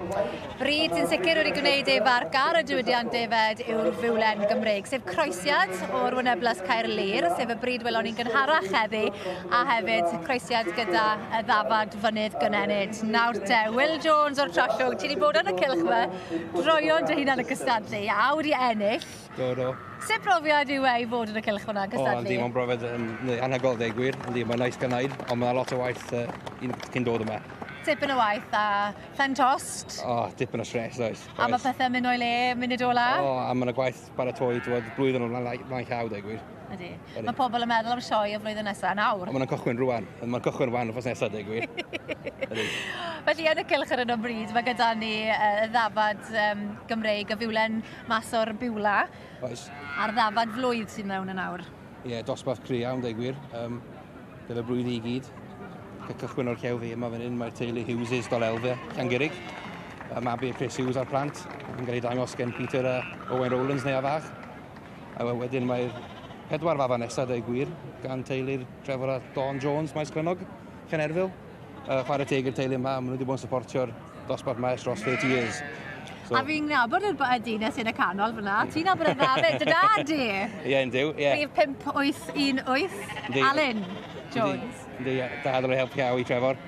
Bryd sy'n sicr wedi gwneud ei farc ar y diwydiant defaid yw'r fiwlen Gymreig, sef croesiad o'r wyneblas Caerlŷr, sef y bryd welon ni'n gynharach heddi, a hefyd croesiad gyda y ddafad fynydd gynenid. Nawr te, Will Jones o'r Trallwg, ti wedi bod ar y cilch fe, droion dy hunan y gystadlu, a wedi ennill. Do, do. Sut brofiad yw e i fod yn y cilch fyna yn gystadlu? O, yndi, mae'n brofiad yn anhygol, ddeg gwir. Yndi, mae'n nice gynnau, ond mae'n lot o waith uh, cyn dod yma tipyn o waith a Pen tost. O, oh, dipyn o stres, oes. A mae pethau'n mynd o'i le, munud ola? O, oh, a mae yna gwaith baratoi, dwi'n bod, blwyddyn o'n flaen llaw, dweud gwir. Ydy. Mae pobl yn meddwl am sioe y flwyddyn nesaf yn awr. Mae'n cychwyn rwan. Mae'n cychwyn rwan o'r nesaf, dweud gwir. Felly, yn y cilch ar yno bryd, mae gyda ni uh, ddafad um, Gymreig y fiwlen mas o'r biwla. Oes. A'r ddafad flwydd sy'n mewn yn awr. Ie, yeah, dosbarth cri iawn, dweud gwir. Um, Dyna blwydd i gyd. Fe cychwyn o'r cew fi yma fan hyn, mae'r teulu Hughes, dol elfe, Llangurig. Mae mabu Chris Hughes a'r plant yn cael ei dangos gen Peter a Owen Rowlands neu a fach. A wedyn mae'r pedwar fafa nesaf, dau gwir, gan teulu'r Trevor a Dawn Jones, Maes Clynnog, Llanerfil. Uh, chwarae teg i'r teulu yma, maen nhw wedi bod yn supportio'r dosbarth mae ers dros 30 years. So. A fi'n nabod yr y dynes yn y canol fyna. Ti'n nabod y dda fyd, dy dad i? Ie, yn diw, ie. Rhif 5818, Alun Jones. Yndi, ie. Da, ddylai helpu cael i Trevor.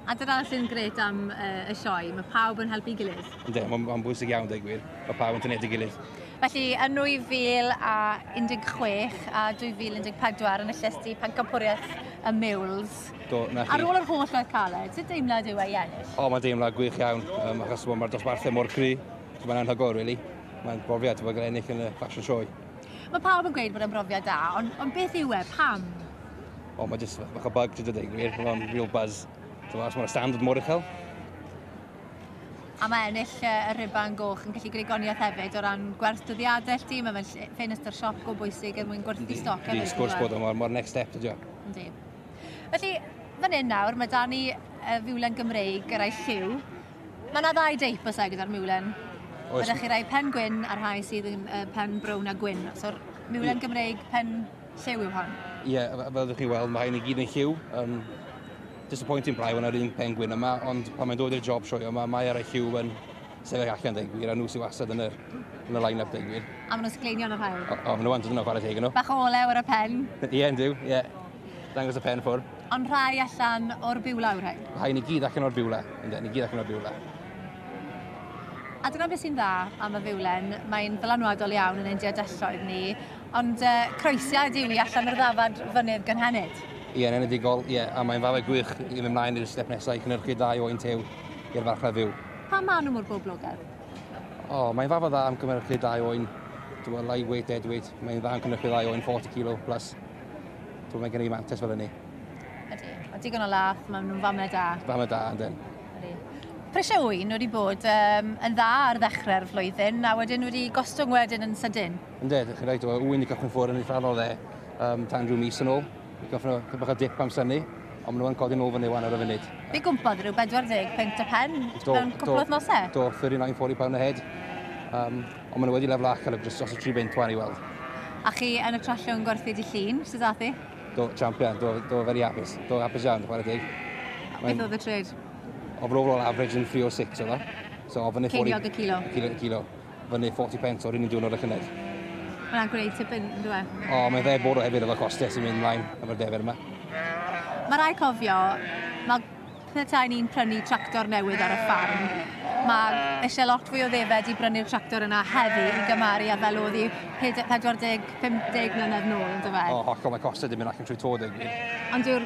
A dyna sy'n gret am uh, y sioe, mae pawb yn helpu gilydd. Yndi, mae'n bwysig iawn, dweud gwir. Mae pawb yn tynedig gilydd. Felly, yn 2016 a 2014 yn y llesti pencampwriaeth y Miwls, Do, na chi. ar ôl yr holl oedd caled, sut deimlad yw e i ennill? O, mae'n deimlad gwych iawn, um, achos mae'r dosbarthau mor gry. So, mae'n anhygoel, really. Mae'n brofiad i fod yn ennill yn y fashion sioe. Mae pawb yn gweud bod e'n brofiad da, ond, ond beth yw e? Pam? O, mae jyst bach o bug, ti'n dweud ei gwir. Mae'n real buzz. So, achos mae'r stand yn mor uchel. a mae ennill y rhuban goch yn gallu gwneud gwaniaeth hefyd o ran gwerth dyddiadau llti, mae fe'n ffenestr siop go bwysig er mwyn gwerthu stoc hefyd. Ydy, sgwrs bod o'n mor next step ydi o. Ydy. Felly, fan hyn nawr, mae Dani y fiwlen Gymreig yr a'i lliw. Mae yna ddau deip o segyd ar miwlen. Oes. Mae chi rai pen gwyn a rhai sydd yn uh, pen brown a gwyn. So'r miwlen Gymreig pen Lliw yw hon. Ie, yeah, fel ydych chi'n weld, mae hyn i gyd yn lliw. Um, disappointing braidd yna'r un pengwyn yma, ond pan mae'n dod i'r job sioio yma, mae ar y lliw yn sefyll allan deg gwir, a nhw sy'n wastad yn y, yn y line-up deg gwir. A maen nhw'n sgleinion o'r hael. O, o maen nhw'n dod yna chwarae teg nhw. Bach o olew ar y pen. Ie, yeah, yn dyw, ie. Yeah. Dangos y pen ffwr. Ond rhai allan o'r biwla yw'r rhain? Rhai ni gyd allan o'r biwla, ynddo, ni gyd allan o'r biwla. A dyna beth sy'n dda am y fiwlen, mae'n ddylanwadol iawn yn ein diadelloedd ni, Ond croesiad yw i allan o'r ddafad fynydd gynhenid. Ie, yn enedigol, ie, a mae'n falle gwych i fynd mlaen i'r step nesaf i cynhyrchu dau o un tew i'r farchnad fyw. Pam maen nhw mor boblogaidd? O, mae'n ddafad dda am cynhyrchu dau o un to a light weight, dead weight. Mae'n dda am cynhyrchu dau o un 40 kilo plus. To, mae gen i mantes fel hynny. Ydy, a digon o lath, maen nhw'n famau da. Famau da, yndyn. Ydy. Prisiau ŵyn wedi bod um, yn dda ar ddechrau'r flwyddyn a wedyn wedi gostwng wedyn yn sydyn. Yndw, dych chi'n rhaid o ŵyn i gychwyn ffwr yn eitha o dde um, tan rhyw mis yn ôl. I gychwyn o bach o dip am syni, ond maen nhw'n codi nôl fyny wan ar y funud. Fi gwmpodd rhyw 40 pint o pen mewn cwpl o thnosau? Do, 39, 40 pound a head. Um, ond maen nhw wedi lefel ac ar y dros y 3 beint wan i weld. A chi yn y trallwng gwerthu di llun, sydd ath i? Do, champion, do, do very hapus. Do, hapus iawn, chwarae deg. Beth oedd y trade? Overall average yn 306 oedd o. So, ofyn i Ceiniog y kilo. Kilo, kilo. fyny 40 pence o'r un diwrnod y llynedd. Mae'n gwneud ti bin, yn dweud? E? O, mae'n dde bwrw hefyd efo costau sy'n mynd mlaen efo'r defer yma. Mae rai cofio, mae pethau ni'n prynu tractor newydd ar y ffarm. Mae eisiau lot fwy o ddefed i brynu'r tractor yna heddi i gymaru â fel oedd i 40-50 mlynedd nôl, yn dweud? E? O, hollol, mae costau dim yn allan trwy tod ei gwir. Ond yw'r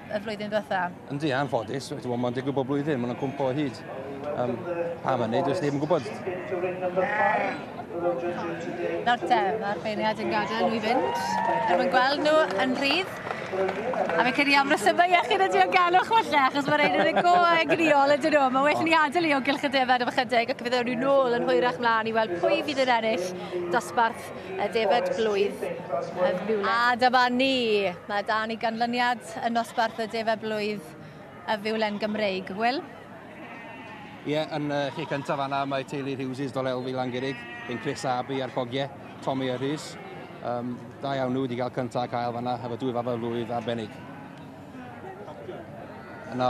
y flwyddyn ddiwetha. Yndi, anffodus. Mae'n digwydd bob blwyddyn, mae'n cwmpo o hyd. Um, pa mae'n neud, dwi'n ddim yn gwybod. Nawr te, mae'r beirniad yn gadael nhw i fynd. Er mwyn gweld nhw yn rhydd. A fe cedi am resymau iechyd y diogelwch falle, achos mae'r ein yn y go egniol ydyn nhw. Mae well ni adael i o gylch y defed am ychydig, ac fe ddewn nhw nôl yn hwyrach mlaen i weld pwy fydd yn ennill dosbarth Ffrainc, y defaid blwydd a fuwlent. A dyma ni! Mae 'da ni ganlyniad yn nosbarth y defaid blwydd a fuwlent Gymreig, Wil? Ie, yn y lle cyntaf fanna mae teulu'r Hughes' dol Elfi Langurig, yn Chris a Abi a'r cogie, Tommy a Rhys. Um, da iawn nhw wedi cael cyntaf a cael fanna, efo dwy fabau blwydd arbennig. Yna,